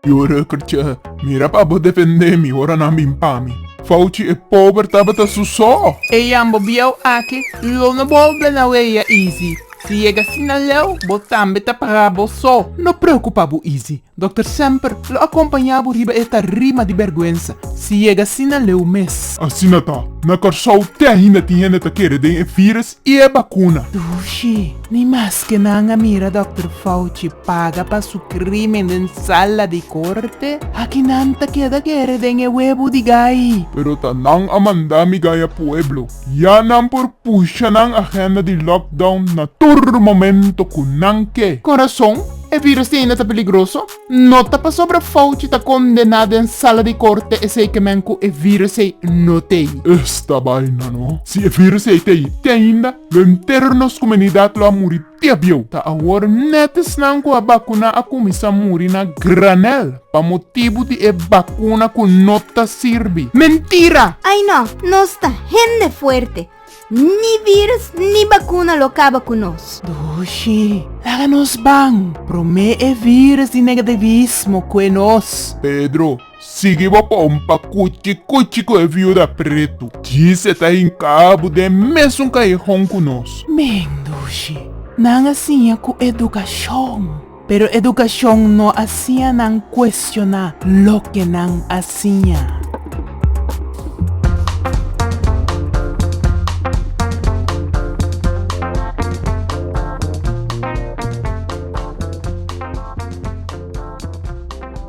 Yora kercha mira pa bo defende mi ora nan bin pa mi. Fauci e pober tabata su so. E yambo bieu aki lo no bolbe na weia Easy. Si yega asina leu bo tambe ta para bo so. No preocupa bo Easy. Dokter semper lo a kompañá bo riba e tarima di bèrgwensa, si yega asina leu mes. Asina ta, na Kòrsou te ainda tin hende ta kere den e vírus i e bakuna. Dushi, ni maske nan a mira Dòkter Fauci paga pa su krímen den sala di korte, aki nan ta keda kere den e webu di gai. Pero ta nan a manda mi gai a pueblo. Ya nan por pusha nan agenda di lockdown na tur momento cu nan ke. Con rason, e virus di ainda ta peligroso? No ta pasobra Fauci ta condena den sala di corte esey ke men cu e virus ey no t'ey. Esta baina no. Si e virus ey t'ey, te ainda, lo entero di nos comunidad lo a muri. Diabieu! Ta awor net esnan cu a bacuna a cuminsa muri na granel pa motibu di e bacuna cu no ta sirbi. Mentira! Ay no! Nos ta hende fuerte. Ni virus ni bacuna lo caba cu nos. Dushi, laga nos ban! Prome e virus di negativismo cue nos. Pedro, Sigui bo bon pa kuchi kuchi ku e viuda pretu. Djis e ta hinká bo den mesun kayehon ku nos. Mendushi, nan a siña ku edukashon, pero edukashon no a siña nan kuestioná loke nan a siña.